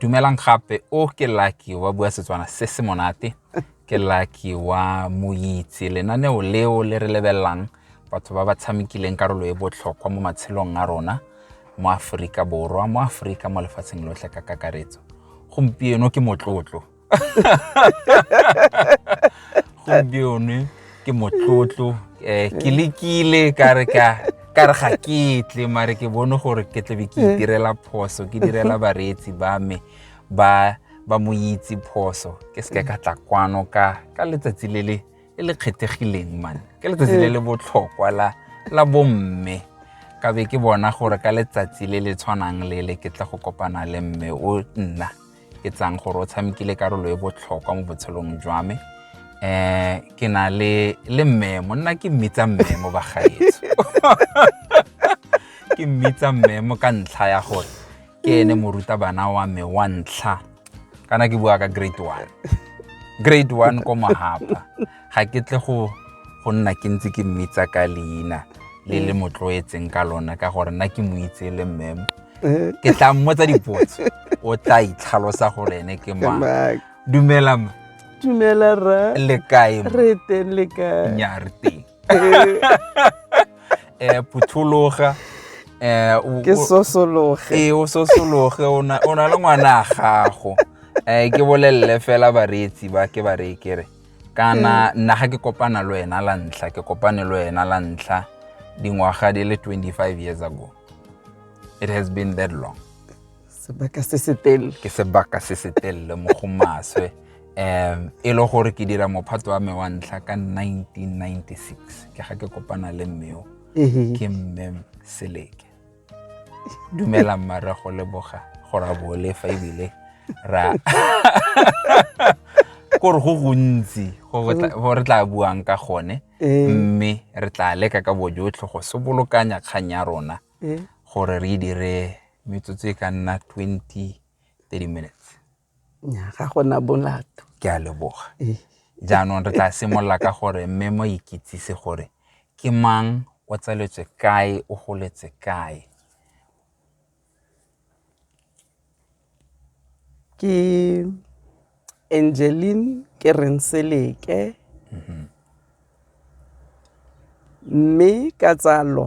dumelang gape o ke lucky wa bua setswana se se monate ke lucky wa moitse lenaneo leo le re lebelelang batho ba ba tshamekileng karolo e botlhokwa mo matshelong a rona mo aforika borwa mo aforika mo lefatsheng lotlhe ka kakaretso gompieno ke motlotlo gompione ke motlotlo um ke lekile ka re ka ka re ga ketle mare ke bone gore ke tlabe ke eh. itirela phoso ke direla bareetsi ba me ba ba mo itse phoso ke seke ka tla kwano ka ka letsatsi le le le le kgethegileng man ke letsatsi le eh. le botlhokwa la la bomme ka be ke bona gore ka letsatsi le le tshwanang le le ke tla go kopana le mme o nna ke tsang gore o tshamekile karolo e botlhokwa mo botshelong jwa me um ke na le le mmemo nna ke mmitsa mmemo bagaetso ke mmitsa mmemo ka ntlha ya gore ke ene morutabana wa me wa ntlha kana ke bua ka grade one grade one ko mohapa ga ke tle go go nna ke ntse ke mmitsa ka leina le le mo tloetseng ka lona ka gore nna ke mo itse le mmemo Eh, ke tla mmotsa dipotso o tla itlhalosa gore ene ke mang Mark. dumela ma dumela ra le kae ma? re teng le kae nya re teng Eh, um phuthologa um ke sosologe ee o sosologe o na o na le ngwana a gago um ke bolelele fela bareetsi ba ke ba reye kere kana nna ga ke kopana le wena la ntlha ke kopane le wena la ntlha dingwaga di le 25 years ago it has been that long sebaka se se telele ke sebaka se se telele mo go maswe um e le gore ke dira mophato wa me wa ntlha ka 1996 ke ga ke kopana le mmeo ke mme seleke dumela mmarra go leboga gore a bole fa ebile ra kore go gontsi go re tla buang ka gone eh. mme re tla leka ka bojotlhe go se bolokanya kgang ya rona eh. gore re e dire metsotso e ka nna 20 30 minutes Nnyaa, ga gona molato. Ke a leboga. Jaanong re tla simolola ka gore mme mo ikitsise gore ke mang o tsaletswe kae o goletse kae. Ke Angeline ke Renseleke mme ka tsalo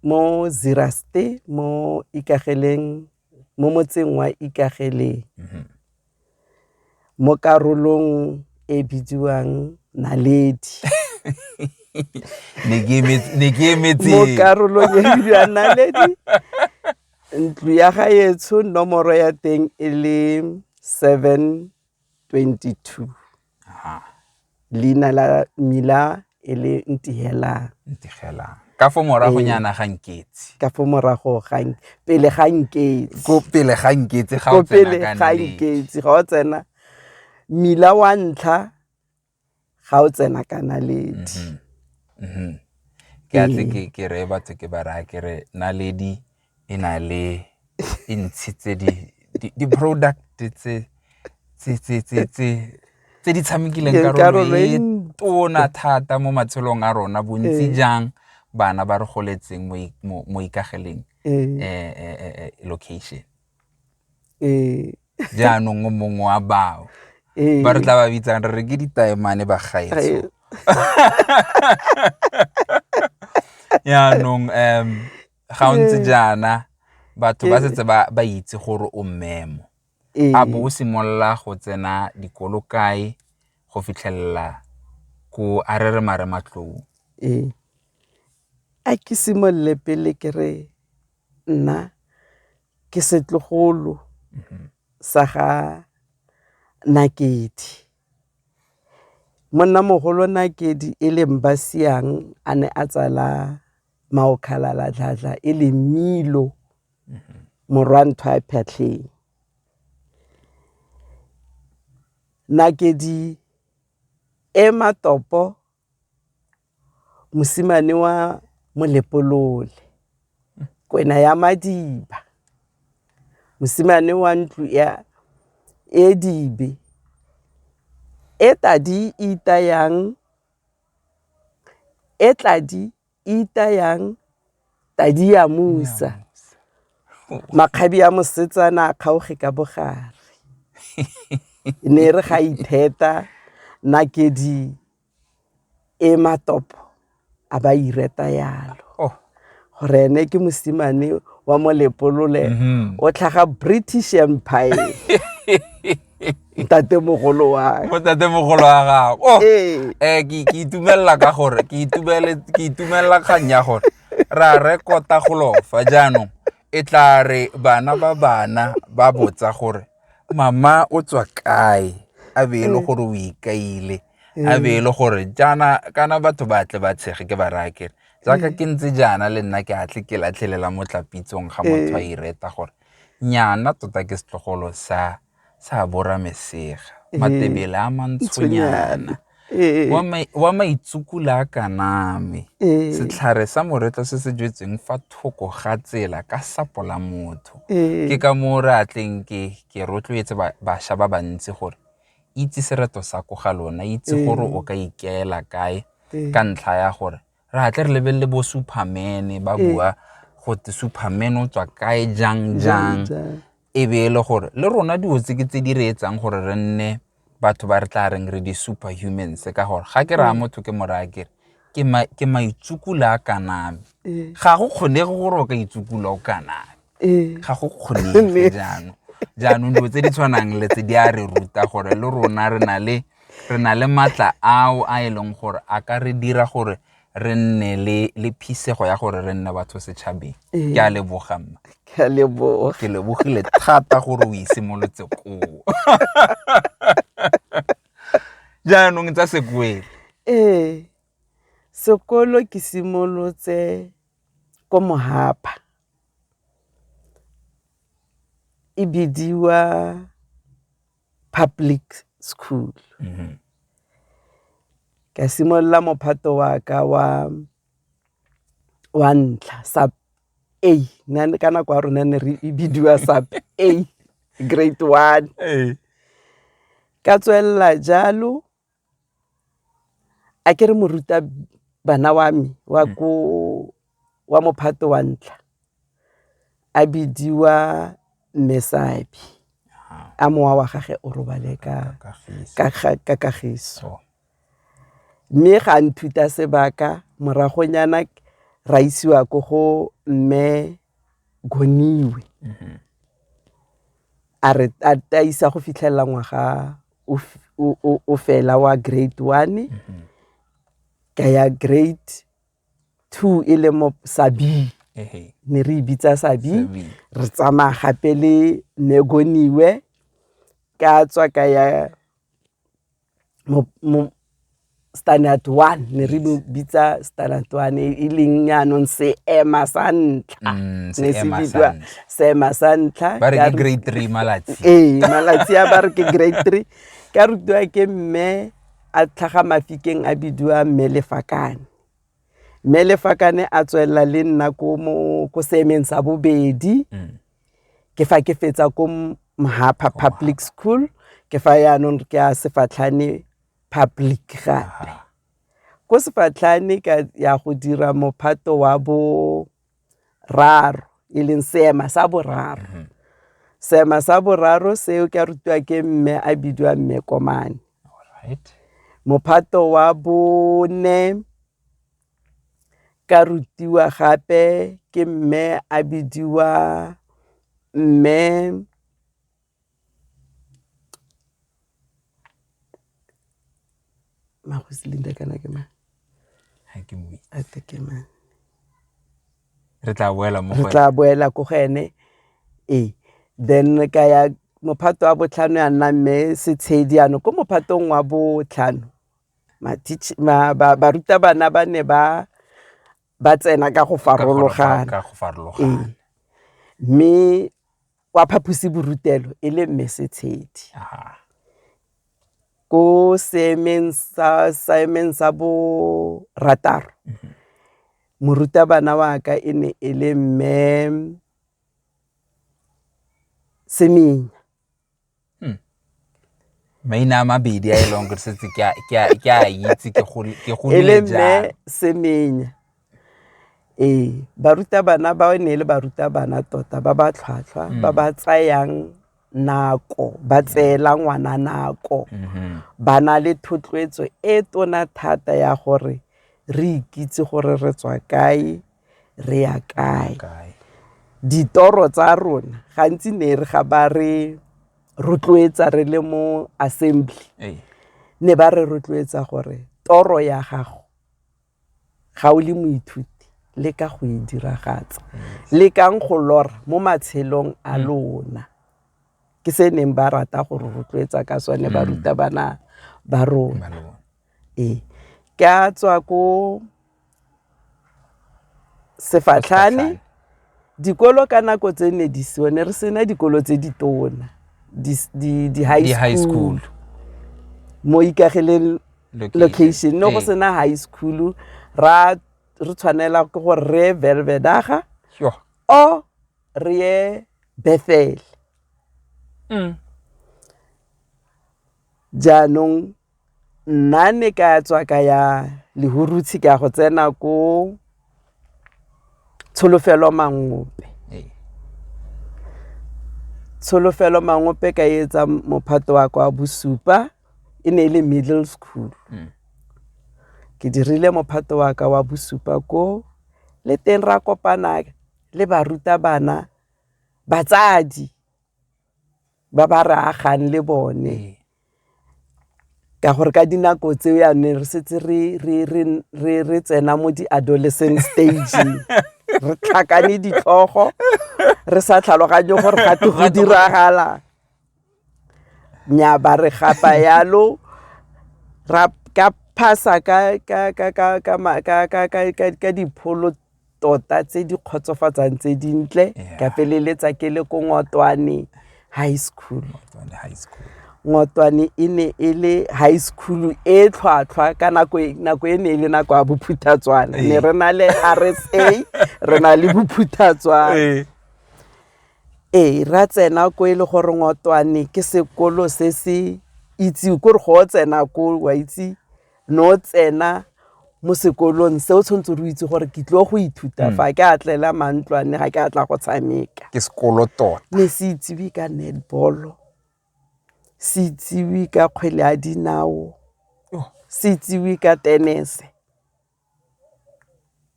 mo Ziraste mo Ikageleng mo motseng wa Ikageleng mhm. mo karolong e bidiwang Naledi ne ke emetse mo karolong e bidiwang Naledi ntlo ya gaetsho nomoro ya teng e le seven 22 leina la mmila e le ntihelang ntihelang ka fo morago ee. nyana ga nketse ka fo morago ga pele ga nketse ko pele ga nketse ga o tsena ka pele ga nketse ga o tsena mmila wa ntlha ga o tsena ka naledi mm-hmm. mm-hmm. ke a tle ke re batho ke ba raya ke re naledi e na le e ntshi tse di di-product tse tse di tshamekileng karolo e tona thata mo matshelong a rona bontsi ee. jang bana ba re goletseng mo ikageleng ee. eh, eh, eh, location ee jaanong o mongwe wa bao ee ba re tla ba bitsang re re ke ditaemane ba gaetso jaanong um ga o ntse jaana batho ba setse ba ba itse gore o mmemo ee a bo o simolola go tsena dikolo kae go fitlhelela ko a re re mare matlou ee a ke simolole pele ke re nna ke setlogolo sa ga Nakedi. Monnamogolo Nakedi e leng Basiang a ne a tsala Maokgalala Dladla e leng Mmilo morwa Nthwa Phatlheng. Nakedi e matopo mosimane wa molepolole kwena ya madiba mosimane wa ntlo ya edibe e tadi itayang e tladi itayang Tadiamusa, makgabi a mosetsana a kgaoge ka bogare. E ne e re ga itheta nakedi e matopo a ba ireta yalo oh. gore ene ke mosimane wa molepolole mm-hmm. o tlhaga british empire ntatemogolo wa mo tatemogolo wa gago oh, Ee. eh ke ke itumelela ka gore ke itumele ke itumelela kgang ya gore ra rekota golofa jaanong e tla re bana ba bana ba botsa gore mama o tswa kae a be e le gore o ikaile a be e le gore jaana kana batho ba tle ba tshege ke ba raya kere jaaka ke ntse jaana le nna ke a tle ke latlhelela mo tlapitsong ga motho a ireta gore nnyana tota ke setlogolo sa sa bora mesega matebele a mantshonyana wa maitsukula a kaname setlhare sa moretlo se se jetseng fa thoko ga tsela ka sapo la motho ke ka moo re atleng ke ke rotloetse bašwa ba bantsi gore itse sereto sa ko ga lona itse gore o ka ikaela kae ka ntlha ya gore Re a tle re lebelele bo Superman-e ba Ee. bua go te Superman o tswa kae jang jang Jang. e be e le gore le rona dilo tse ke tse di re etsang gore re nne batho ba re tla reng re di-super humans ka gore ga ke raya motho ke moraya kere ke ma- ke maitsukula a kaname Ee. ga go kgonege gore o ka itsukula o kaname ga go kgonege jaanong jaanong dilo tse di tshwanang le tse di a re ruta gore le rona re na le re na le maatla ao a e leng gore a ka re dira gore re nne le le phisego ya gore re nne batho setšhabeng ke a leboga mma ke a leboga ke lebogile thata gore o isimolotse koo jaanong tsa sekwele ee sekolo ke simolotse ko mohapa e bidiwa public school mm -hmm. ka simolola mophato wa ka wa wa ntlha sub a nane ka nako ya rona ne re e bidiwa sub a grade one ka tswelela jalo A ke re morutabana wa me wa ko wa mophato wa ntlha a bidiwa Mme Sabi a mowa wa gage o robale ka Kagiso. Mme ga a nthuta sebaka moragonyana ra isiwa ko go Mme Goniwe. A re tataisa go fitlhelela ngwaga o fela wa grade one mm-hmm. ka ya grade two e le mo sabi ne re e bitsa sabi re tsamaya gape le negoniwe ka tswa ka ya standard one ne re bitsa standard one e, e leng yaanong seema sa ntlha mm, ne se bidiwa seema sa ntlha ba re ke grade three malatsi ee malatsi a ba re ke grade three ka rutiwa ke mme a tlhaga mafikeng a bidiwa mme lefakane mme lefakane a tswelela le nna ko seemeng sa bobedi mm. Ke fa ke fetsa ko Mhapha Public School ke fa yaanong ke a Sefatlhane Public gape. Ko Sefatlhane ka ya go dira mophato wa boraro e leng seema sa boraro. Mm-hmm. Seema sa boraro seo ke a rutiwa ke mme a bidiwa mme Komane. Mophato wa bone ka rutiwa gape ke mme a bidiwa mme Magosi Linda kana ke mang? Ha ke mo itse. A se ke mang? Re tla boela mo go Re tla boela ko go ene. Ee. Then ka ya mophato wa botlhano ya nna mme Setshedi ano ko mophatong wa botlhano. barutabana ba ne ba ba tsena ka go farologana mme wa phaposiborutelo e le mme setshedi ko seemeng sa seemeng sa bo rataro mhm. morutabana wa ka e ne e le mme seminya hmm. maina a mabedi a e leng gore setse ke a itse ke golele jang e semenya ee barutabana ba ne e le barutabana tota ba ba tlhwatlhwa hmm. ba ba tsayang nako ba tseela ngwana nako mm-hmm. ba na le thotloetso e tona thata ya gore re ikitse gore re tswa kae re ya kae ditoro tsa rona gantsi ne re ga ba re rotloetsa re le mo assembly ne ba re rotloetsa gore toro ya gago ga o le moithuti le ka go e diragatsa le kang go lora mo matshelong a mm. lona ke se neng ba rata go re rotloetsa ka sone mm. barutabana ba rona ee ke a tswa ko sefatlhane dikolo ka nako tse ne di seo ne re sena dikolo tse di tona di-high school mo ikagileng location ne go sena high school ra re tshwanela ke gore re ye velvedaga o re ye bethel mm. jaanong Nna ne ka tswa ka ya Lehurutshe ka go tsena ko Tsholofelo Mangope. Tsholofelo Mangope ka etsa mophato wa kwa bosupa e ne e le middle school. Mm. Ke dirile mophato wa ka wa bosupa ko le teng ra kopana le barutabana batsadi ba ba re agang le bone. ka gore ka dinako tseo yane re setse re tsena mo di-adolescent stage re tlhakane ditlhogo re sa tlhaloganye gore ga te go diragala nya ba re gapa yalo ra ka phasa ka dipholo tota tse di kgotsofatsang tse dintle yeah. ka feleletsa ke le ko ngotwane high school ngotwane e ne e le high school e tlhwatlhwa ka nako e, nako e ne e le nako ya bophuthatswana ne eh. re na le r s a re na le bophuthatswana eh. ee ra tsena ko e le gore ngotwane ke sekolo se se itse kore go o tsena ko wa itse no tsena mo sekolong se o tshwanetse re itse gore ke tlo go ithuta hmm. fa ke a tlela mantlwane ga ke a tla go tshameka ke sekolo tota ne se itsewe ka netball se itsewe ka kgwele ya dinao oh. se itsewe ka tenese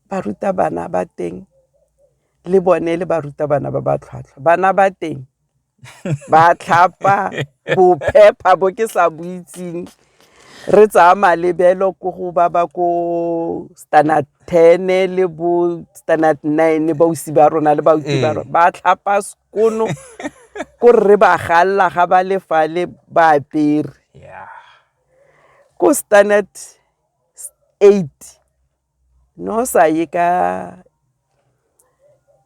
barutabana ba teng le bone le barutabana ba ba tlhwatlhwa bana ba teng ba tlhapa bophepha bo ke sa bo itseng re tsaya malebelo ko go ba ba ko standard ten le bo standard nine bausi ba rona le bausi ba rona ba tlhapa sekono ko re ba galela ga ba le fale ba apere ko standard eight Ne o sa ye ka,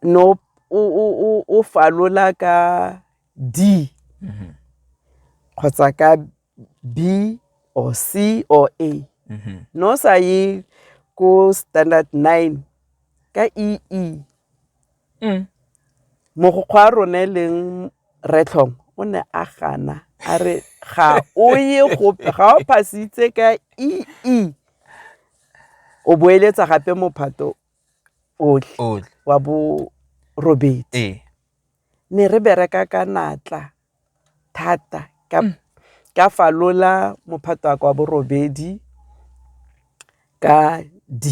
ne o falola ka D kgotsa ka B or C or A. Ne o sa ye ko standard nine ka EE. Mogokgo wa rona e leng Rre Tlhomo o ne a gana a re ga o ye gope, ga o pass-itse ka EE. o boeletsa gape mophato otlhe wa bo robedi ee. ne re bereka ka natla thata ka mm. ka falola mophato wa kwa borobedi ka D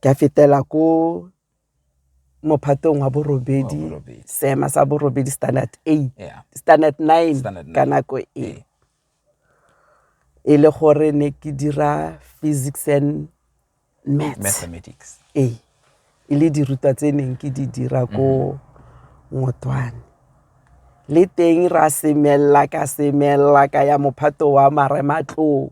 ka fetela ko mophatong wa borobedi seema sa borobedi standard eight standard nine ka nako e e le gore ne ke dira physics and mathematics ee e le dirutwa tse neng ke di dira ko mm-hmm. ngotwane le teng ra semelela ka semelela ka ya mophato wa marematloo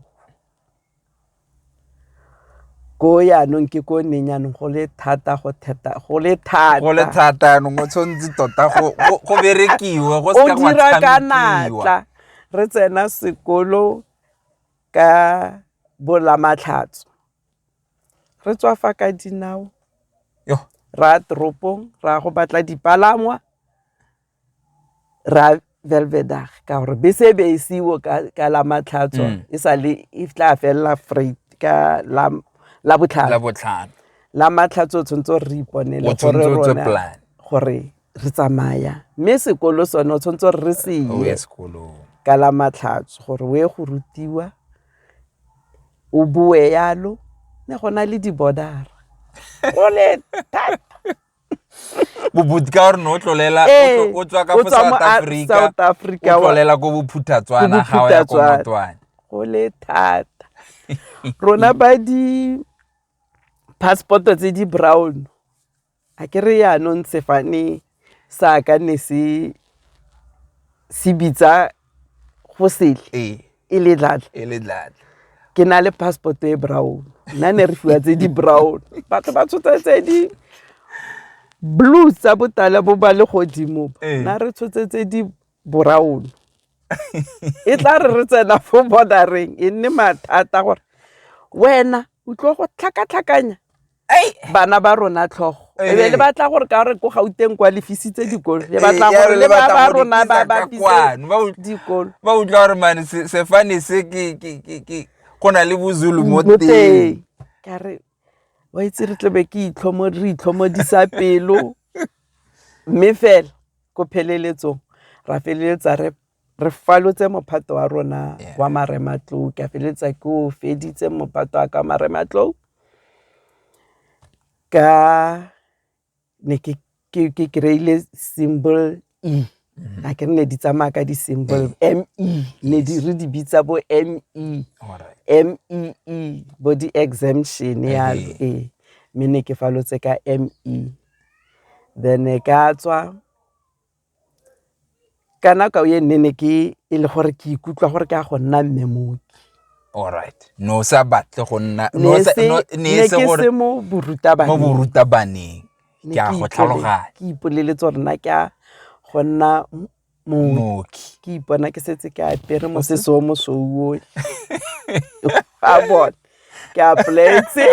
ko yaanong ke ko neng yaanong go le thata go theta go le thata go le thata yaanong o tshwanetse tota go berekiwe go se ka dira ka natla re tsena sekolo ka bolamatlhatso re tswa fa ka dinao ra toropong ra go batla dipalangwa ra velvedag ka gore bese e be e seiwo ka la matlhatswa mm. e sa le e tla felela freight ka la la botlhano la matlhatso o tshwanetse re iponele gore rona gore re tsamaya mme sekolo sone o tshwanetse gore re se ye ka la matlhatso gore o ye go rutiwa o boe yalo ne go na le di-bordera o le thata bobotsi ka gore ne o tlolela Ee, o tlo- o tswa ka o fo tswa south mo a- africa South Africa, o wa- tlolela ko bophuthatswana ga o ya ko Bophuthatswana. motwane go le thata rona ba di passport-o tse di brown a ke re yaanong sefane sa ka ne se se bitsa go sele ee e le dlatla e le dlatla ke na le passport e brown nna ne re fiwa tse di brown batho ba tshotsa tse di blue tsa botala bo ba le godimo ee. na re tshotse tse di brown e tla re re tsena fo bordereng e nne mathata gore wena o tlo go tlhakatlhakanya bana ba rona tlhogo e be le batla gore ka re ko gauteng kwa lefisitse dikolo le batla gore le ba ba rona ba ba dikolo ba utlwa gore mane sefane se ke ke ke ke go na le bozulu mo teng ka re wa itse re tlebe ke itlhomo re itlhomodisa pelo mme fela ko pheleletsong ra feleletsa re re falotse mophato wa rona yeah. wa marematlou ke a feleletsa ke o feditse mophato wa ka wa marematlou ka ne ke ke ke kreile symbol e mm-hmm. a ke ne di tsamaya ka di symbol e. m e ne di re di bitsa bo m e m e e bo di exemption ya e me ne ke falotse ka m e then ka tswa ka nako e nne ne ke e le gore ke ikutlwa gore ke a go nna mme mooki alright ne o sa batle go nna ne o sa- se- no- ne ne e se ke gore se mo mo borutabaneng borutabaneng Ne ke a go ipo- tlhaloganya ke ipoleletse gore nna ke a go nna m- mooki mooki ke ipona ke setse ke apere mosese o mosouo a bone ke applyetse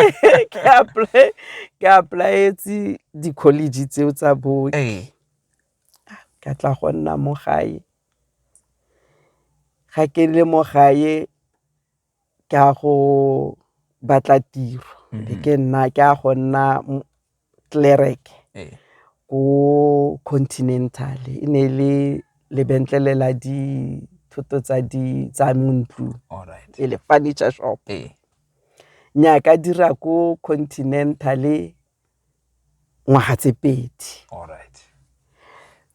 ke apply- ke applyetse di-college tseo tsa booki ee Ka tla go nna mo gae, ga ke le mo gae ke a go batla tiro e ke nna ke a go nna clerk ko continental e ne e le lebetlele la dithoto tsa di tsa mo ntlong e le furniture shop. Nnyaa ka dira ko continental ngwaga tse pedi.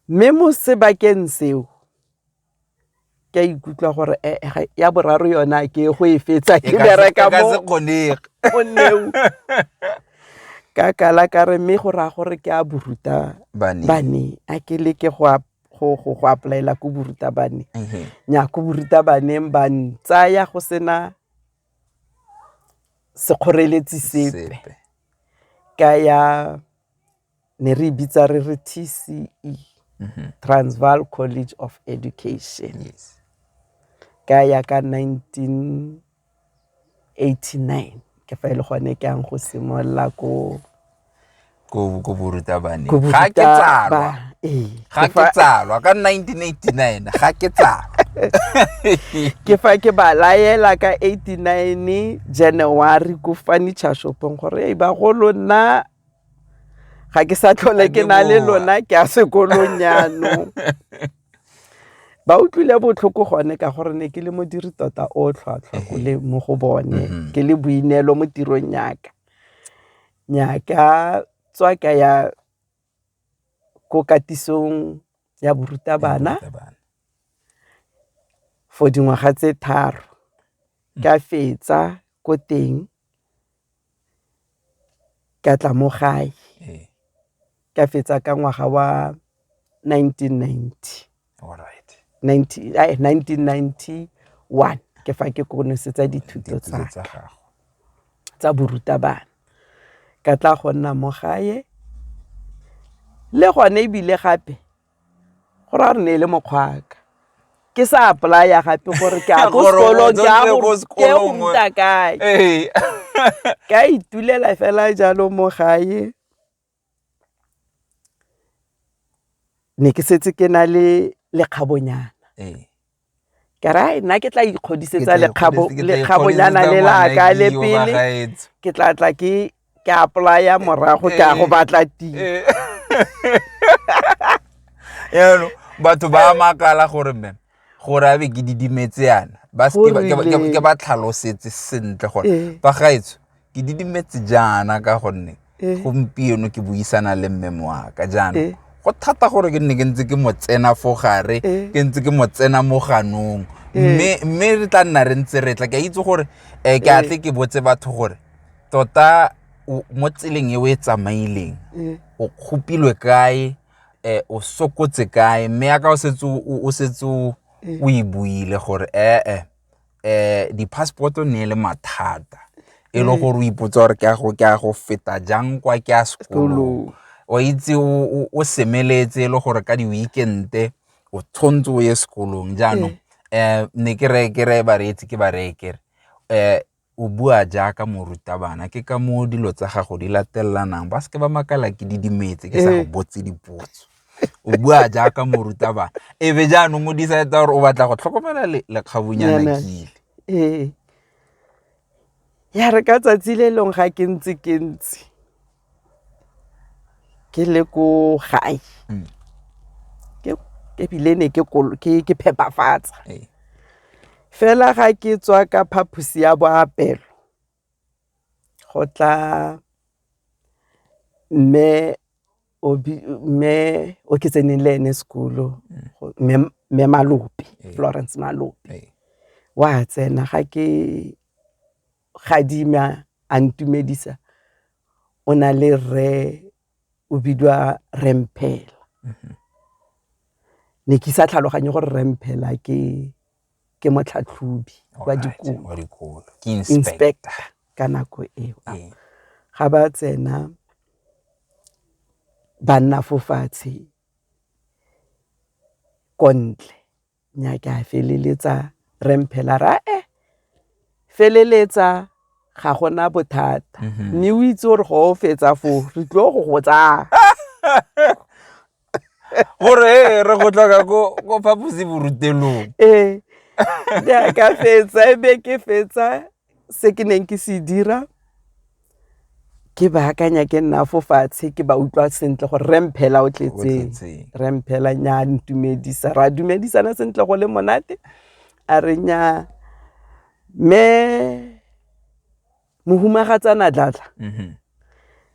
Mme mo sebakeng seo ke a ikutlwa gore eh, eh, ya boraro yona ke go e fetsa ke bereka mo ka kala ka re mme go raya gore ke a boruta bane a ke leke go a go go go applyela ko borutabane mhm. nya ko borutabaneng ba ntsaya go sena sekgoreletsi sepe ka ya ne re e bitsa re re T_C_E, mm-hmm. Transvaal College of Education ka ya ka 1989 ke fa e le gone ke yang go simolola ko ko ko borutabane Ko ga ke Boruta- tsalwa ba- ee. ga Ke ke fa- tsalwa ka 1989 ga ke tsalwa ke fa ke ba laela ka 89 january ko furniture shopong gore ei bagolo nna ga ke sa tlhole Ga ke ke na le boa. lona ke a sekolong yanong ba utlwile botlhoko gone ka gore ne ke le modiri tota o tlhwatlhwa ko le mo go bone Mhm. ke le boineelo mo tirong yaka Nnyaa ke a tswa ka ya ko katisong ya barutabana for dingwaga tse tharo, ka fetsa ko teng ka tla mo gae ka fetsa ka ngwaga wa nineteen ninety. Alright. 19 ai, 1991 ke fa ke konosetsa dithuto Dithuto tsa tsa gago. tsa borutabana ka tla go nna mo gae le gone ebile gape go ra re ne e le mokgwaka ke sa apply-a gape gore ke a ko Gore o sekolong ke a tswelele go ko ke sekolong. go ruta kae Ee. ka itulela fela jalo mo gae ne ke setse ke na le lekgabonyana ee. ke ra nna ke tla ikgodisetsa lekgabonyana le laka le pele ke tla tla ke ke apply-a morago ke a go ee. batla tiro ee. batho ba makala gore mme gore a be ke didimetse yana ba seke ba- ke ba- ke ba- ke ba tlhalosetse sentle gore Ee. ba gaetsho ke didimetse jaana ka gonne Ee. gompieno ke buisana le mme moaka jaana Ee. go thata gore ke nne ke ntse ke mo tsena fo gare Ee. ke ntse ke mo tsena mo ganong mme mme re tla nna re ntse re tla ke a itse gore um ke atle ke botse batho gore tota o- mo tseleng e o e tsamaileng Ee. o kgopilwe kae eh, o sokotse kae mme yaka o setse o setse o e buile gore ee eh, eh, di-passporto ne le mathata e le gore o ipotsa gore ke a go ke a go feta jang kwa ke a sekolong o itse o semeletse e le gore ka di-weekende o tshwanetse o ye sekolong jaanong um ne ke re ke re bareetsi ke bareekere um o bua jaaka morutabana ke ka moo dilo tsa gago di latelelanang ba seke ba makala ke di dimetse ke sa go eh. botse dipotso o bua jaaka morutabana e be jaanong o decide gore o batla go tlhokomela lekgabunyana kile ee ya re ka tsatsi le leng ga ke ntse ke ntse ke le ko gae mm. ebile ne ke phepafatsa ee. fela ga ke tswa ka phaposi ya boapelo go tla mme obi mme o ke tseneng le ene sekolo mme mme malope ee. florence malope ee. wa tsena ga ke gadima a ntumedisa o na le rre o bidiwa remphela mhm. ne ke sa tlhaloganye gore remphela ke ke motlhatlhobi wa dikolo inspector ka nako eo ee. ga ba tsena ba nna fo fatshe kontle nya ke a feleletsa re mphela ra e eh, feleletsa ga gona bothata mhm. mme o itse gore go o fetsa fo re tlo go go tsaya gore eh, re go tlhoka ko phaposi borutelong ee eh, ka fetsa e be ke fetsa Se ke neng ke se dira ke baakanya ke nna fo fatshe ke ba utlwa sentle gore re mphela o tletseng re mphela nya ntumedisa ra dumedisana sentle go le monate a re nya me mohumagatsana dlatla mhm.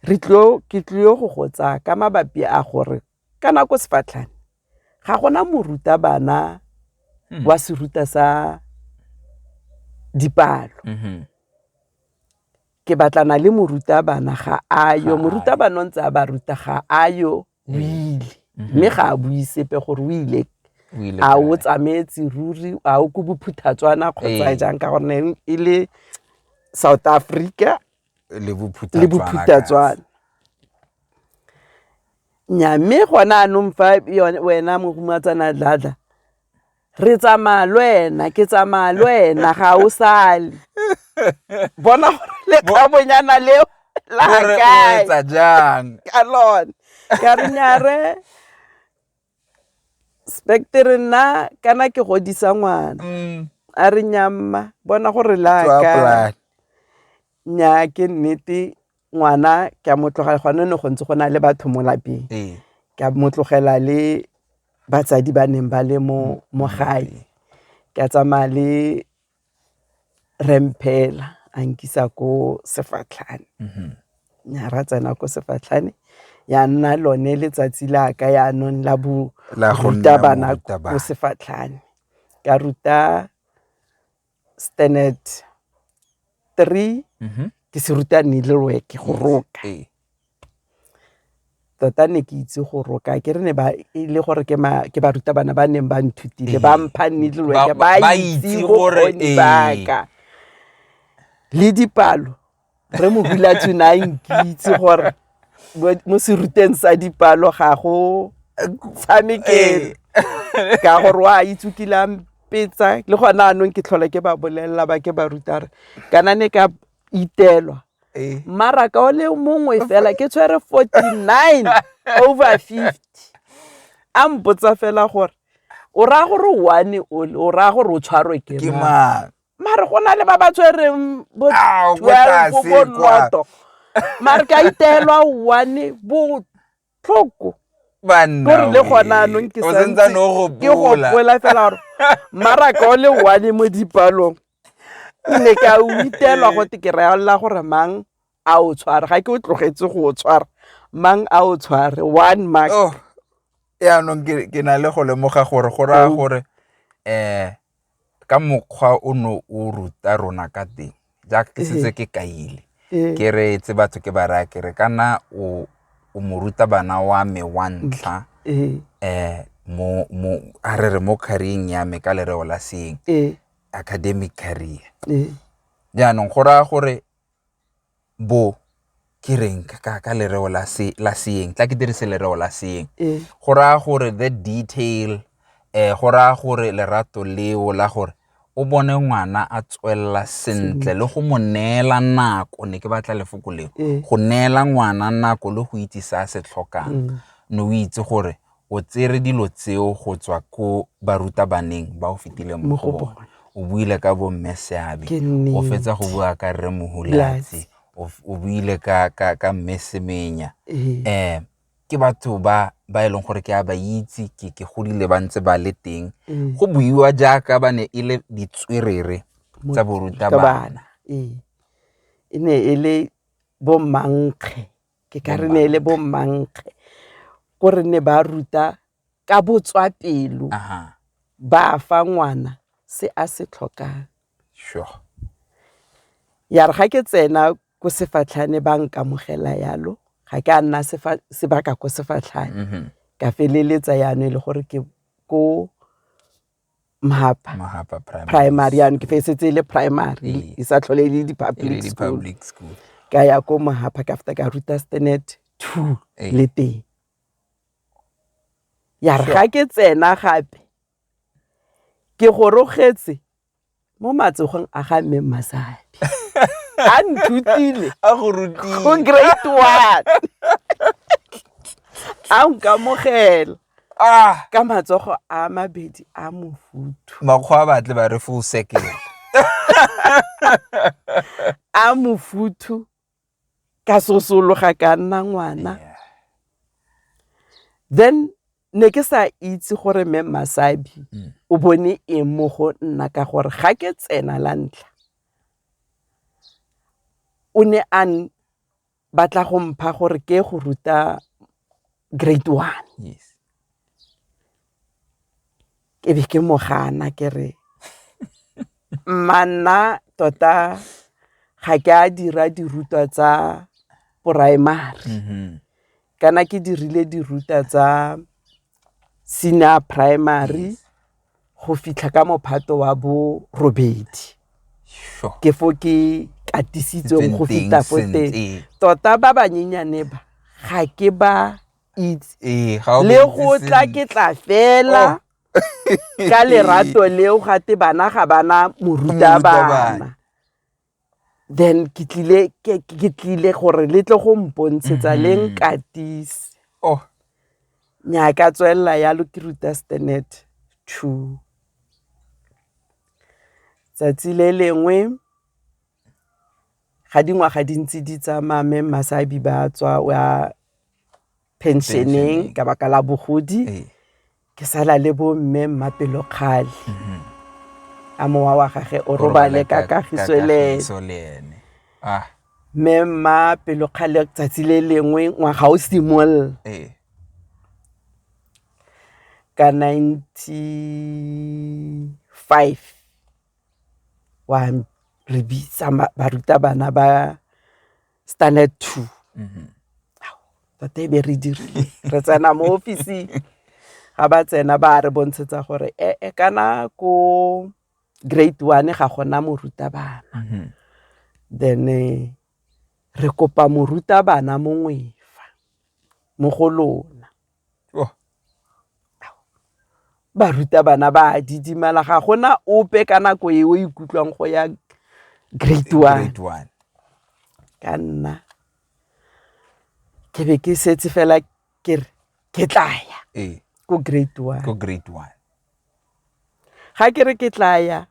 re tlo ke tlile go go tsaya ka mabapi a gore Ka nako sefatlhane ga gona morutabana hmm. wa seruta sa dipalo mm-hmm. ke batlana le morutabana ga ayo morutabana o ntse a ba ruta ga ayo o mm-hmm. ile mm-hmm. mme ga a bue sepe gore o ile a o tsamaetse ruri a o ko bophuthatswana kgotsa ee. jang ka gonne e le south africa le bophuthatswana Nnyaa mme gone jaanong fa wena Mohumatsana Dladla re tsamaya le wena ke tsamaya le wena ga o sale bona gore lekgabonyana leo la kae jang ka lone ka re nyare spectre nna kana ke godisa ngwana mm. a re nyamma bona gore la kae nnyaa ke nnete ngwana ke a motlogela gone ne go ntse go na le batho mo lapeng ee. ke a motlogela le batsadi ba neng ba le mo mo gae ke a tsamaya le remphela a nkisa ko sefatlhane mhm. ya ra tsena ko sefatlhane ya nna lone letsatsi la ka ya nong la bo ruta bana ko sefatlhane ka ruta standard three Mhm. ke se ruta needle work go roka Ee. tota ne ke itse go roka ke re ne ba e le gore ke ma- ke ba ruta bana ba neng ba nthutile ba Ee. mpha needle Ba- work ba- ba ba itse itse gore, bokgoni ee. baka le dipalo re mohulatsu ne a nkitse gore mo seruteng sa dipalo ga go tshamekele eh. ka gore wa itse kile a mpetsa le gona anong ke tlhola ke ba bolelela ba ke ba rutare kana ne ka itelwa eh. mmaraka o le mongwe fela ke tshwere 49 over 50 a mpotsa fela gore o raya gore one o raya gore o tshwarwe ke mang mare go na le ba ba tshwereng bo Ah, o ko 12 tlase bo kwa. noto mare ka iteelwa one botlhoko banna kore le we. gona anong ke O santse santse ne o ke gopola. gopola fela gore maraka o le one mo dipalong ne ka o itelwa go te ke realla gore mang a o tshware ga ke o tlogetse go o tshwara mang a o tshware one mark Oh, yaanong ke ke na le go lemoga gore go raya Au. gore um ka mokgwa o ne o ruta rona ka teng jaaka ke setse ke kaile ke re tse batho ke ba raya ke re kana o o mo ruta bana wa me wa ntlha um mo mo a re re mo career-eng ya me ka lereo la seeng academic career jaanong go raya gore bo ke reng ka ka lereo la se la seeng tla ke dirise lereo la seeng eh. go raya gore the detail eh go raya gore lerato leo la gore o bone ngwana a tswelela sentle le go mo neela nako ne ke batla lefoko leo eh. go neela ngwana nako le go itse se a se tlhokang mm. ne o itse gore o tsere dilo tseo go tswa ko barutabaneng ba o fetile mo go bone o buile ka bomme seabe o fetsa go bua ka rre mohulatse o buile ka, ka, ka mme semenya um eh, ke batho ba ba e leng gore ke a ba itse ke ke godile ba ntse ba le teng mm. go buiwa jaaka ba ne e le ditswerere tsa borutabana e ne e le bommankge ke ka re neele bo mmankge ko re ne ba ruta ka botswa pelo ba fa ngwana se a se tlhokang sure ya re ga ke tsena ko sefatlhane ba nkamogela yalo ga ke a nna sebaka ko sefatlhane mm-hmm. ka feleletsa yana e le gore ke ko mahapa mahapa primary primary yanong ke fesetse e le primary Ee. e sa tlhole e le e le di-public school public school ka ya ko mahapa ka feta ka ruta stanet two Ee. le teng ya re Sure. ga ke tsena gape ke gorogetse mo matsogong a ga mme Masadi a nthutile a go rutile go grade one a nkamogela ah. ka matsogo a mabedi a mofuthu makgwa a batle ba re full circle a mofuthu ka sosologa ka nna ngwana then ne ke sa itse gore mme masabi mm. o bone eng mo go nna ka gore ga ke tsena la ntlha o ne a batla go mpha gore ke go ruta grade one yes. ke be ke mo gana ke re mmanna tota ga ke a dira dirutwa tsa primary mm-hmm. kana ke dirile dirutwa tsa senior primary go fitlha ka mophato wa bo robedi ke fo ke katisitsweng go feta fo teng tota ba banyenyane ba ga ke ba itse Ee, ga o le bontse go tla sentle. ke tla fela Oh. ka lerato leo ga te bana ga bana morutabana Morutabana. then ke tlile ke ke tlile gore le tle go mpontshetsa le Mhm. nkatise Oh, nya ka tswelela yalo ke ruta stanet two tsatsi le lengwe ga dingwaga di ntse di tsamaya mme masabi ba tswa o ya pensioneng ka baka la bogodi ee. ke sala le bo mme mmapelo kgale mhm. a mowa wa gage o robale ka kagiso le ene ah. mme mma pelo kgale tsatsi le lengwe ngwaga o simolola ee. ka ninety five wa re bitsa barutabana ba standard two mm-hmm. tota ebe re dirile re tsena mo officing ga ba tsena ba re bontshetsa gore ee eh, eh, kana ko grade one ga gona morutabana mm-hmm. then eh, re kopa morutabana mongwe fa mo go lona Barutabana ba a didimala ga gona ope ka nako e o ikutlwang go ya grade one ka nna ke be ke setse fela ke re ke tlaya ee. ko grade one ko grade one ga ke re ke tlaya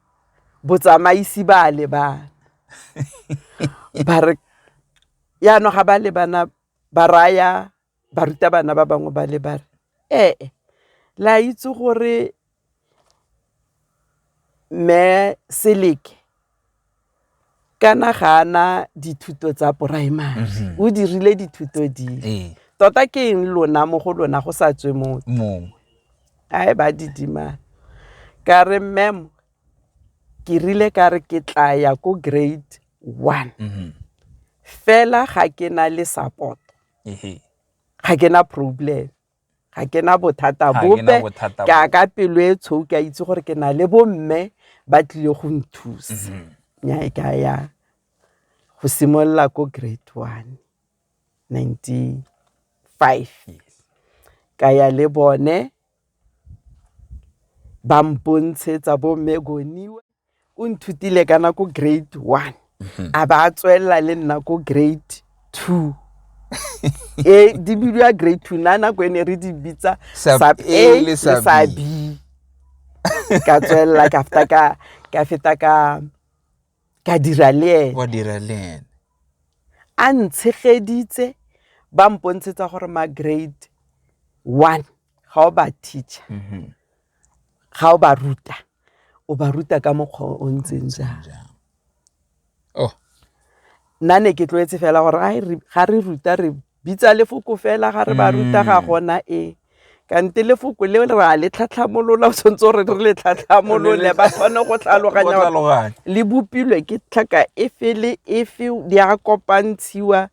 botsamaisi ba a lebana ba re yaanong ga ba lebana ba raya barutabana ba bangwe ba le ba re ee le a itse gore Mme Seleke kana ga a na dithuto tsa primary o dirile dithuto dile, tota ke eng lona mo go lona go sa tswe motho a e ba didimala ka re mmemo ke rile ka re ke tla ya ko grade one fela ga ke na le support. ga ke na problem ga ke na bothata bope ke a ka pelo e tshweu ke a itse gore ke na le bomme ba tlile go nthusa mhm. nyae ke a ya go simolola ko grade one ninety five ka ya le bone ba mpontshetsa bomme goniwe o nthutile kana ko grade one mhm. a ba a tswelela le nna ko grade two e di bidiwa grade two na nako e ne re di bitsa sub a le sub b ka tswelela ka feta ka ka feta ka ka dira le ene wa dira le ene a ntshegeditse ba mpontshetsa gore ma grade one ga o ba teacher mhm. ga o ba ruta o ba ruta ka mokgwa o ntseng jang oh nna ne ke tlwaetse fela gore a re ga re ruta re bitsa lefoko fela ga re ba ruta ga mm. gona e kante lefoko le re a le tlhatlhamolola o tshwanetse gore re le tlhatlhamolole ba kgone go tlhaloganya le bopilwe ke tlhaka e fele e fe di a kopantshiwa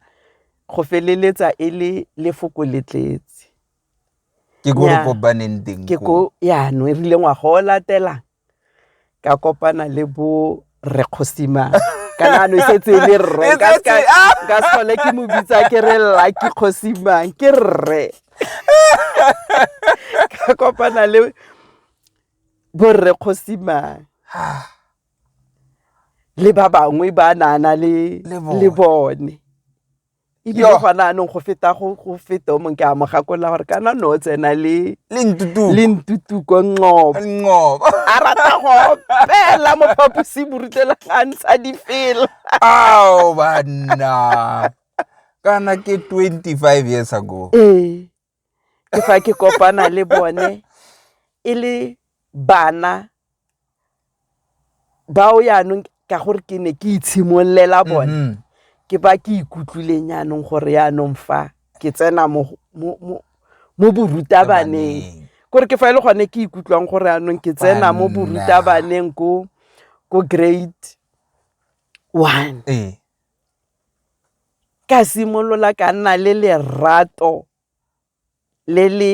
go feleletsa e le lefoko le tletse Ke ko re kopaneng teng ko. Ke ko yanong e rile ngwaga o latelang ka kopana le bo rre Kgosimane ka nagana e setse e le rre ka tlhole ke mo bitsa ke re Lucky Kgosimane ke rre. Ka kopana le bo rre Kgosimane le ba bangwe ba ne a na le bone. ebile Yo. gona anong go feta go go feta o mongwe ke a mo gakolela gore kana no o tsena le le ntutu le ntutuko nqobo nqobo a rata go opela mo phaposiborutelo ga ntsha difela ao banna kana ke 25 years ago ee ke fa ke kopana le bone e le bana bao yaanong ka gore ke ne ke itshimololela bone mm-hmm. ke ba ke ikutlwileng yaanong gore yaanong fa ke tsena mo borutabaneng kore ke fa e le gone ke ikutlwang gore yaanong ke tsena mo borutabaneng ko grade one ee. ka simolola ka nna le lerato le le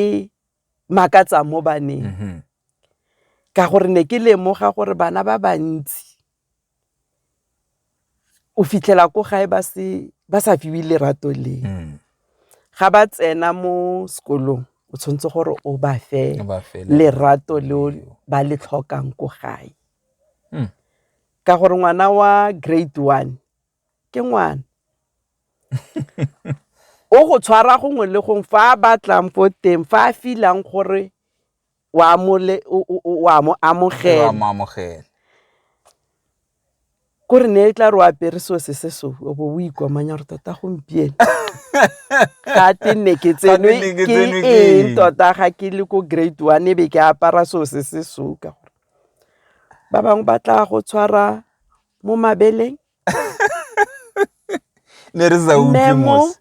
makatsang mo baneng mm-hmm. ka gore ne ke lemoga gore bana ba bantsi o fitlhela ko gae ba se ba sa fiwe lerato le mm. ga ba tsena mo sekolong o tshwanetse gore o ba fe lerato le ba le tlhokang ko gae mm. Ka gore ngwana wa grade one ke ngwana. o go tshwara gongwe le gongwe fa a batlang fo teng fa a filang gore wa mo amogela kore ne e tla re o apere seo se se so o bo o ikomanya gore tota gompieno ga te nne ke tsenwe ke eng tota ga ke le ko grade one e be ke apara seo se se so ka gore ba bangwe ba tla go tshwara mo mabeleng ne re sa memo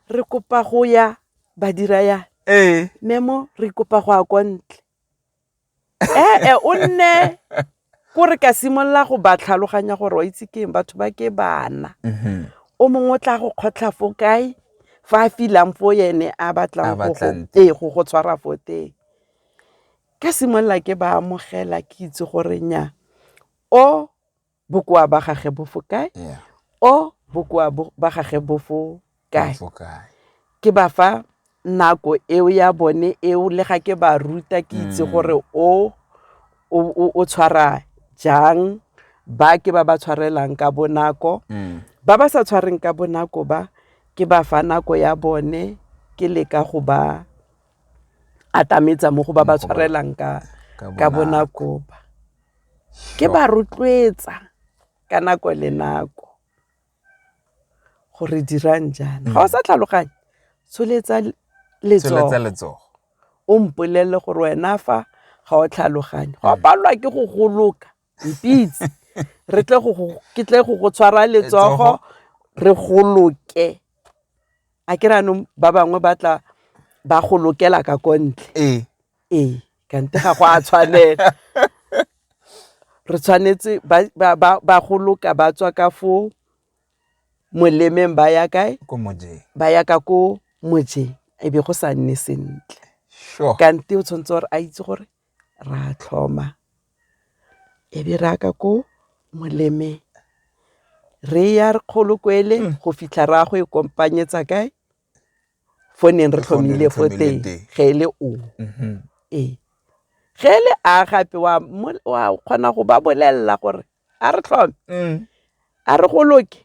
re kopa go ya badira yana ee memo re kopa go ya kwa ntle ee eh, o nne ko re ka simolola go ba tlhaloganya gore wa itse keng batho ba ke bana mhm. o mongwe o tla go kgotlha fo kae fa a filang fo ene a batlang go go ee, tshwara fo teng Ka simolola ke ba amogela ke itse gore nya o bokoa ba gage bo fo kae, o bokoa ba gage bo fo kae. Ke ba fa nako eo ya bone eo le ga ke ba ruta ke itse gore o o tshwara jang ba ke ba ba tshwarelang ka bonako. Ba ba sa tshwareng ka bonako ba ke ba fa nako ya bone ke leka go ba atametsa mo go ba ba tshwarelang ka ka bonako ba ke ba rotloetsa ka nako le nako gore dirang jaana ga o sa tlhaloganye tsholetsa letsogo o mpolelele gore wena fa ga o tlhaloganye go palelwa ke go goloka mpitse re tle go ke tle go go tshwara letsogo re goloke a ke re anong ba bangwe ba tla ba golokela ka ko ntle ee ee kante ga go a tshwanela re tshwanetse ba ba ba goloka ba tswa ka fo molemeng ba ya kae ko mojeng ba ya ka ko mojeng e be go sa nne sentle sure kante o tshwanetse gore a itse gore ra tlhoma e be re ya ka ko molemeng re ya re kgolo kwele go fitlha re ya go e kompaanyetsa kae fo neng re tlhomile fo teng ge e le o ee ge e le a gape wa kgona go ba bolelela gore a re tlhome a re go loke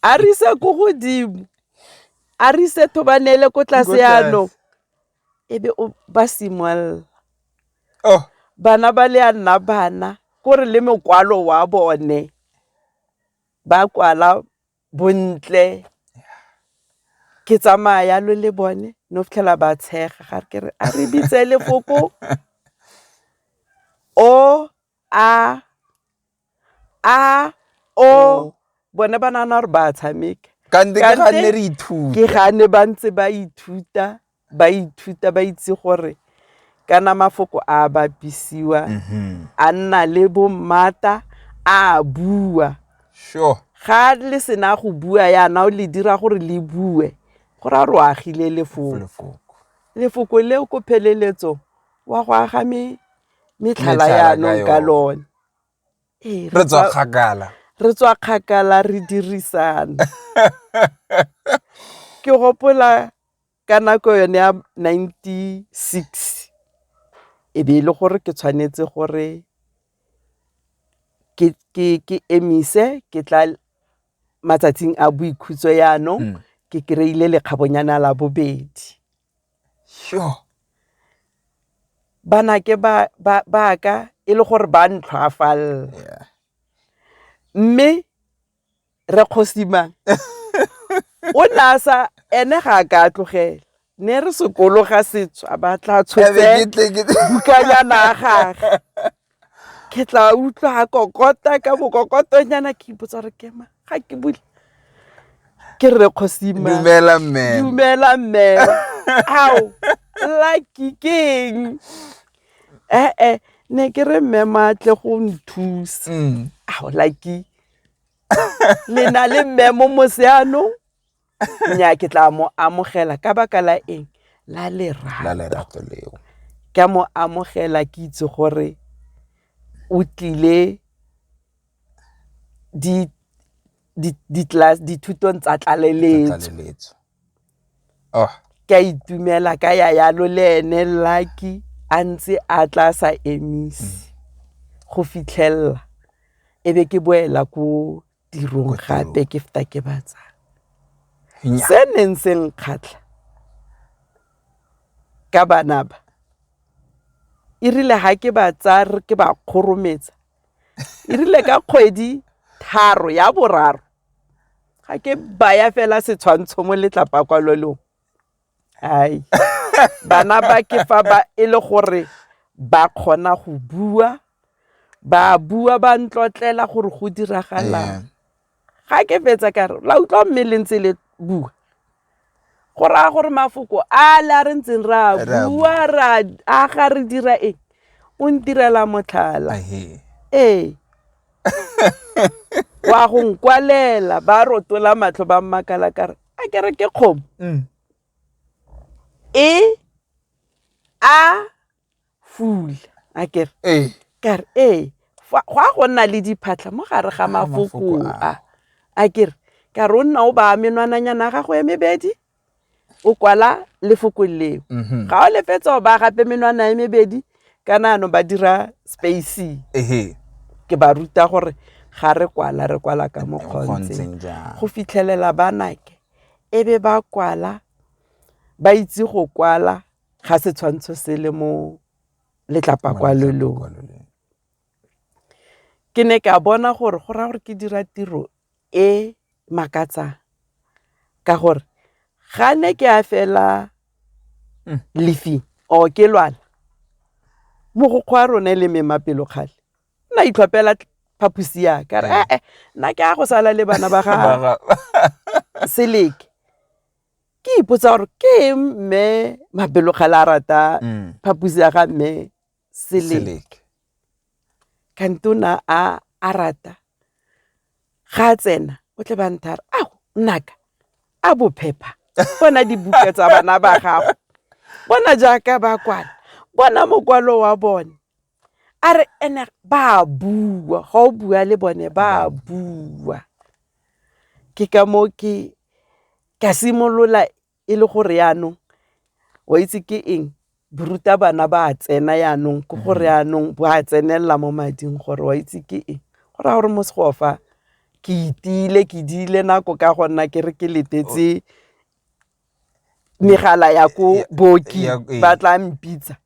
a re ise ko godimo a re ise thobanele ko tlase yanong. e be o ba simolola oh. bana ba le a nna bana ko re le mokwalo wa bone ba kwala bontle ke tsamaya yalo le bone no fitlhela ba tshega ga ke re a re bitse lefoko o a a o bone ba nana gore ba tshameka ka nne ke ga nne re ithuta ke ga ne ba ntse ba ithuta ba ithuta ba itse gore kana mafoko a bapisiwa mhm. a nna le bo mmata a bua sure ga le sena go bua yana o le dira gore le bue go ra ro agile lefoko lefoko leo ko pheleletso wa go aga me metlhala yanong ka lone re tswa kgakala re tswa kgakala re dirisana ke gopola ka nako yone ya ninety six e be e le gore ke tshwanetse gore ke emise ke tla matsatsing a boikhutso yanong ke kry-ile lekgabonyana la bobedi. Sure. Banake ba ka e le gore ba ntlhwafalela. Yeah. Mme re kgosimang o ne a sa ene ga a ka tlogela ne re sekolo ga setswa ba tla tshotse bukanyana ya gage ke tla utlwa ga kokota ka bokokotonyana ke ipotsa gore kema ga ke bule ke rre kgosimdumela mme dumela mme ao lucky keng ee eh, eh, ne ke re mme maatle go nthusa mm. ao lucky le na le mme mo moseanong nya ke tla mo amogela ka baka la eng la lerato leo ke a mo amogela ke itse gore o tlile di di di class dithutong tsa tlaleletso oh ke a itumela ka ya yalo le ene lucky a ntse a tla sa emise mm. go fitlhelela e be ke boela ko tirong gape ke feta ke ba tsaya se neng se nkgatlha ka bana ba e rile ga ke ba tsaya ke ba kgorometsa e rile ka kgwedi tharo ya boraro ga ke baya fela setshwantsho mo letlapa kwa lolong Hai. Bana ba ke fa ba e le gore ba kgona go bua, ba bua ba ntlotlela gore go diragalang. Ga ke fetsa ka re, la utlwa mme le ntse le bua. Go raya gore mafoko a le a re ntseng re a bua ra aga re dira eng o ntirela motlhala. Ee. Wa go nkwalela ba rotola matlho ba mmakala ka re. a kere ke kgomo mm. e a fula a kere ee. kare ee go a go nna le diphatlha mo gare ga mafoko a a kere ka re o nna o baya menwananyana ya gago ya mebedi o kwala lefoko leo mm-hmm. ga o lefetsa o baya gape menwana ya mebedi kana anong ba dira spacing ke ba ruta gore ga re kwala re kwala ka mo kgontseng go fitlhelela ba nake e be ba kwala ba itse go kwala ga setshwantsho se le mo letlapa kwa lolong ke ne ke a bona gore go raya gore ke dira tiro e makatsang ka gore ga ne ke a fela mm. lefing or ke lwana mogokgwa a rone le memapelo kgale nna itlhopela phaposi yaka re ee nna ke a go sala le bana ba gaga seleke ke ipotsa gore ke mme mabelokgale a rata mm. phaposi ya ga mme seleke kante o na a a rata ga a tsena o tle ba nthara a nnaka a bophepha bona dibuka tsa bana ba gago bona jaaka ba kwala bona mokwalo wa bone a re ene ba bua ga o bua le bone ba bua ke ka moo ke ka simolola e le gore yaanong wa itse ke eng boruta bana ba a tsena yaanong ke gore mm-hmm. yaanong bo a tsenelela mo mading gore wa itse ke eng go raya gore mo segofa ke itile ke diile nako ka go nna ke re ke letetse oh. megala ya ko booki eh. ba tla mpitsa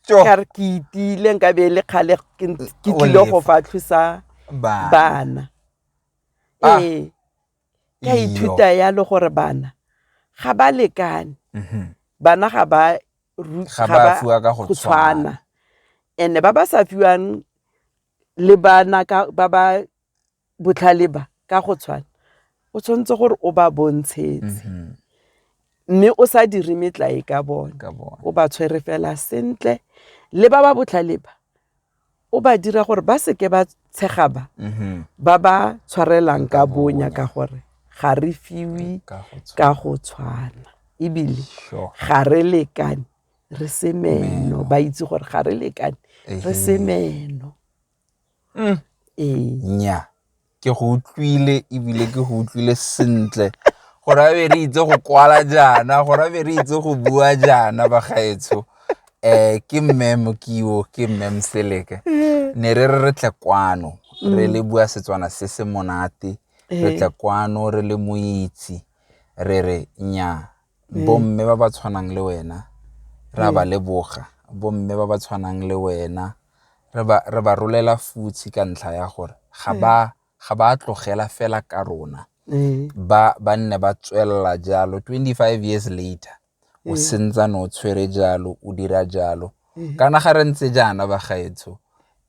kare ke itile nka be le kgale ke tlile go fa tlhosa bana ah. ee ke a ithuta yalo gore bana ga ba lekane mm-hmm. bana ga ba fiwa ka go tshwana and ba ba sa fiwang le bana ba ba botlhale ba ka go tshwana o tshwanetse gore o ba bontshetse mm-hmm. mme o sa dire metlae ka bone o ba tshwere fela sentle le ba ba botlhale ba o ba dira gore ba seke ba tshegaba mm-hmm. ba ba tshwarelang ka bonya ka gore ga re fiwe ka go tshwana ebile ga re lekane re se meno ba itse gore ga re lekane re se meno mm. ee ke go utlwile ebile ke go utlwile sentle gore a be re itse go kwala jaana gore a be re itse go bua jaana bagaetsho um ke mme mokiwo ke mme mseleke ne re re re tle kwano re le bua setswana se se monate re tle kwano re le moitse re re nya mm. bomme ba ba tshwanang le wena ra mm. ba leboga bomme ba ba tshwanang le wena re ba rolela futshi ka ntlha ya gore ga ba ga ba tlogela fela ka rona ba ba nne ba tswelela jalo 25 years later o sentsane o tshwere jalo o dira jalo kana ga re ntse jaana bagaetsho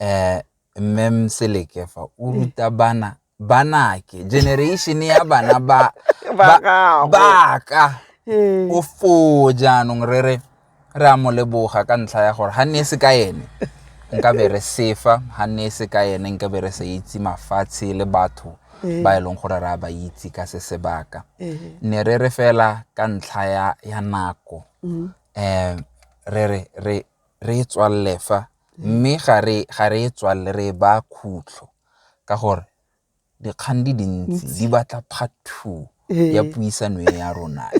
um mme mseleke fa o ruta bana banake generation ya bana ba ba gago baka Ee. o foo jaanong re re re a mo leboga ka ntlha ya gore ga nne e se ka ene nka be re sefa ga nne e se ka ene nka be re sa itse mafatshe le batho ba e leng gore re a ba itse ka se sebaka ne re re fela ka ntlha ya, ya nako um re re re re e tswalele fa mme ga re ga re e tswalele re e ba khutlo ka gore dikgang di dintsi di batla part two ya puisano e ya rona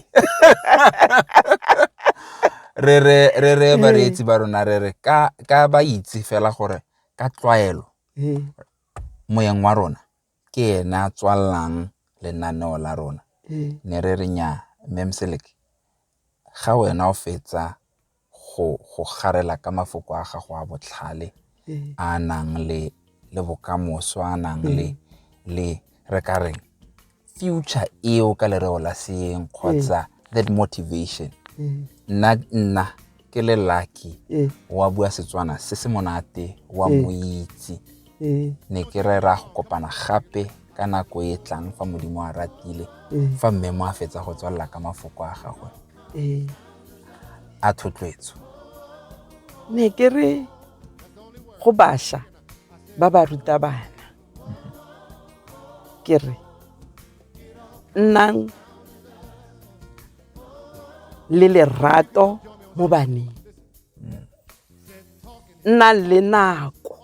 re re re re bareetsi ba rona re re ka ka ba itse fela gore ka tlwaelo moyeng wa rona ke ene a tswalelang lenaneo la rona ne re re nya mmemseleke ga wena o fetsa go go garela ka mafoko a gago a botlhale mm. a nang le le bokamoso a nang le mm. le re ka reng future eo ka lereo la seeng kgotsa mm. that motivation nna nna ke le lucky wa bua setswana se se monate wa moitse mm. ne ke rera go kopana gape ka nako e tlang fa modimo a ratile mm. fa mme mo a fetsa go tswalela ka mafoko a gagwe mm. a thotloetso ne ke re go basha ba ba ruta bana mm-hmm. ke re nnang le lerato mo baneng nnang le nako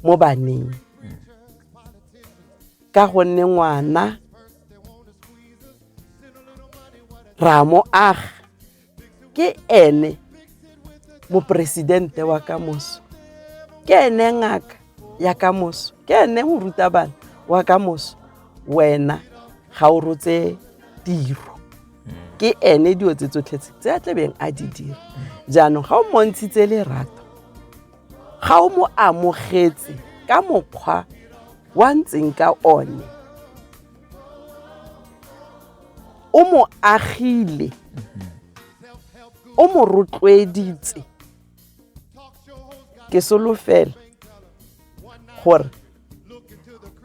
mo baneng ka gonne ngwana ra mo aga ke ene moporesidente wa ka moso ke ene ngaka ya ka moso ke ene morutabana wa ka moso wena ga o rotse tiro ke ene dilo tse tsotlhe tse tse a tlebeng a di dira jaanong ga o montshitse lerato ga o mo amogetse ka mokgwa wa ntseng ka one o mo agile o mo rotloeditse ke solofela gore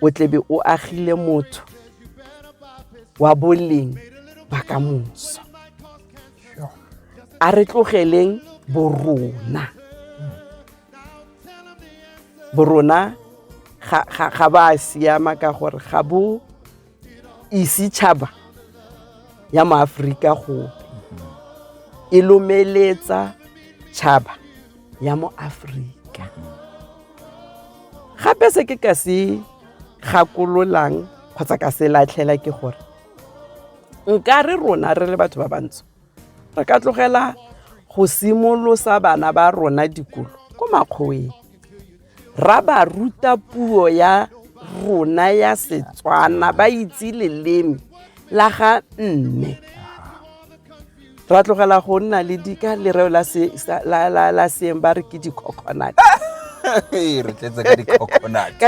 o tlebe o agile motho wa boleng ba ka moso a re tlogeleng borona borona ga ba siama ka gore ga bo ise tšhaba ya maaforika gope e lomeletsa tšhaba ya mo aforika gape se ke ka se gakololang kgotsa ka se latlhela ke gore nka re rona re le batho ba bantsho re ka tlogela go simolosa bana ba rona dikolo ko makgoweng ra ba ruta puo ya rona ya setswana ba itse leleme la ga mme ra tlogela go nna le dika lereo la seeng ba re ke di-coconut ka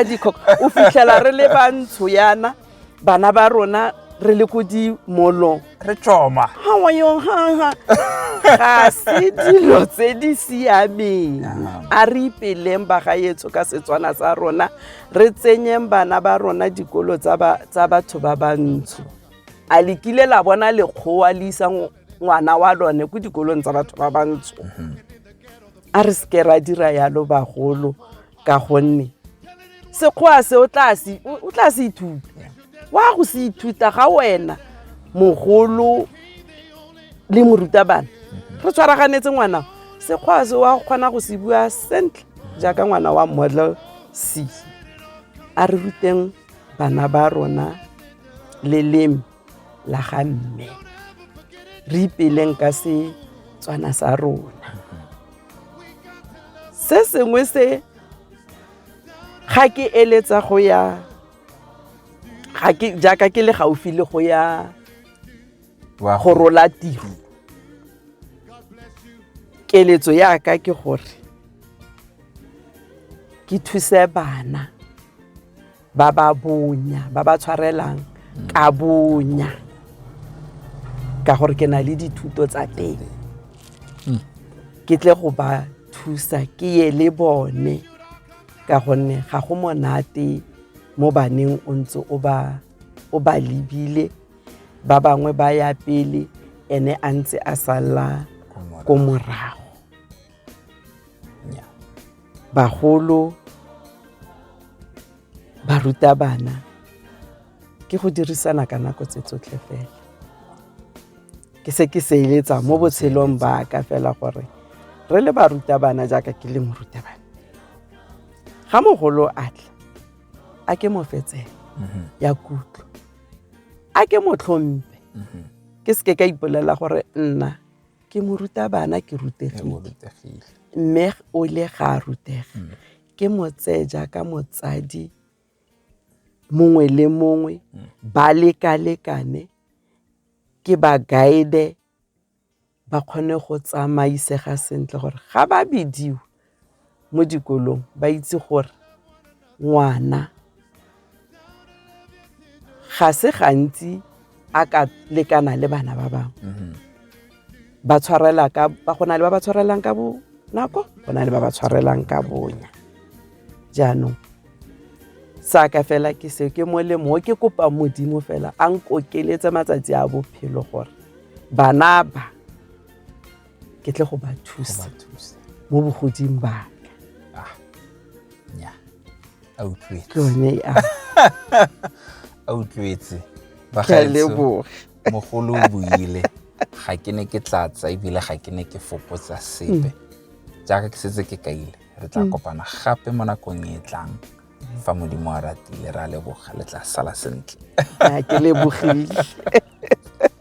o fitlhela re le bantsho yana bana ba rona re le ko dimolong re tsoma ga se dilo tse di siameng a re ipeleng bagaetso ka setswana sa rona re tsenyeng bana ba rona dikolo tsa batho ba bantsho a le kile la bona lekgowa le isa ngwana wa lone ko dikolong tsa batho ba bantsho mhm. a re seke ra dira yalo bagolo ka gonne sekgoa se o tla se o tla se ithuta wa go se ithuta ga wena mogolo le morutabana re tshwaraganetse ngwana sekgoa se wa kgona go se bua sentle jaaka ngwana wa model c a re ruteng bana ba rona leleme la ga mme re ipeleng ka se tswana sa rona se sengwe se ga ke eletsa go ya ga ke jaaka ke le gaufi le go ya go rola tiro keletso ya ka ke gore ke thuse bana ba ba bonya ba ba tshwarelang ka bonya ka gore ke na le dithuto tsa teng hmm. ke tle go ba thusa ke ye le bone ka gonne ga go monate mo baneng o ntse o ba o ba lebile ba bangwe ba ya pele ene a ntse a sala ko morago bagolo ba ruta bana ke go dirisana ka nako tse tsotlhe fela ke se ke seeletsa mo botshelong ba ka fela gore re le barutabana jaaka ke le morutabana ga mogolo a tla a ke mo fetsele mhm. ya kutlo a ke mo tlhompe mhm. ke seke ka ipolela gore nna ke morutabana ke rutegile mme o ile ga a rutega mm. ke mo tseye jaaka motsadi mongwe le mongwe mm. ba lekalekane ke ba guide ba kgone go tsamaisega sentle gore ga ba bidiwe mo dikolong ba itse gore ngwana ga se gantsi a ka lekana le bana ba bangwe mm-hmm. ba tshwarela ka ba go na le ba ba tshwarelang ka bonako go na le ba ba tshwarelang ka bonya jaanong saka fela ke seo ke molemo o ke kopa modimo fela a nkokeletse matsatsi a bophelo gore bana ba ke tle go ba thusa mo bogoding baka ah, a utlwetse bagaetsho mogolo o buile ga ke ne ke tlatsa ebile ga ke ne ke fokotsa sepe mm. jaaka ke setse ke kaile re tla mm. kopana gape mo nakong e tlang fa modimo a ratile re a leboga le tla sala sentle ke lebogile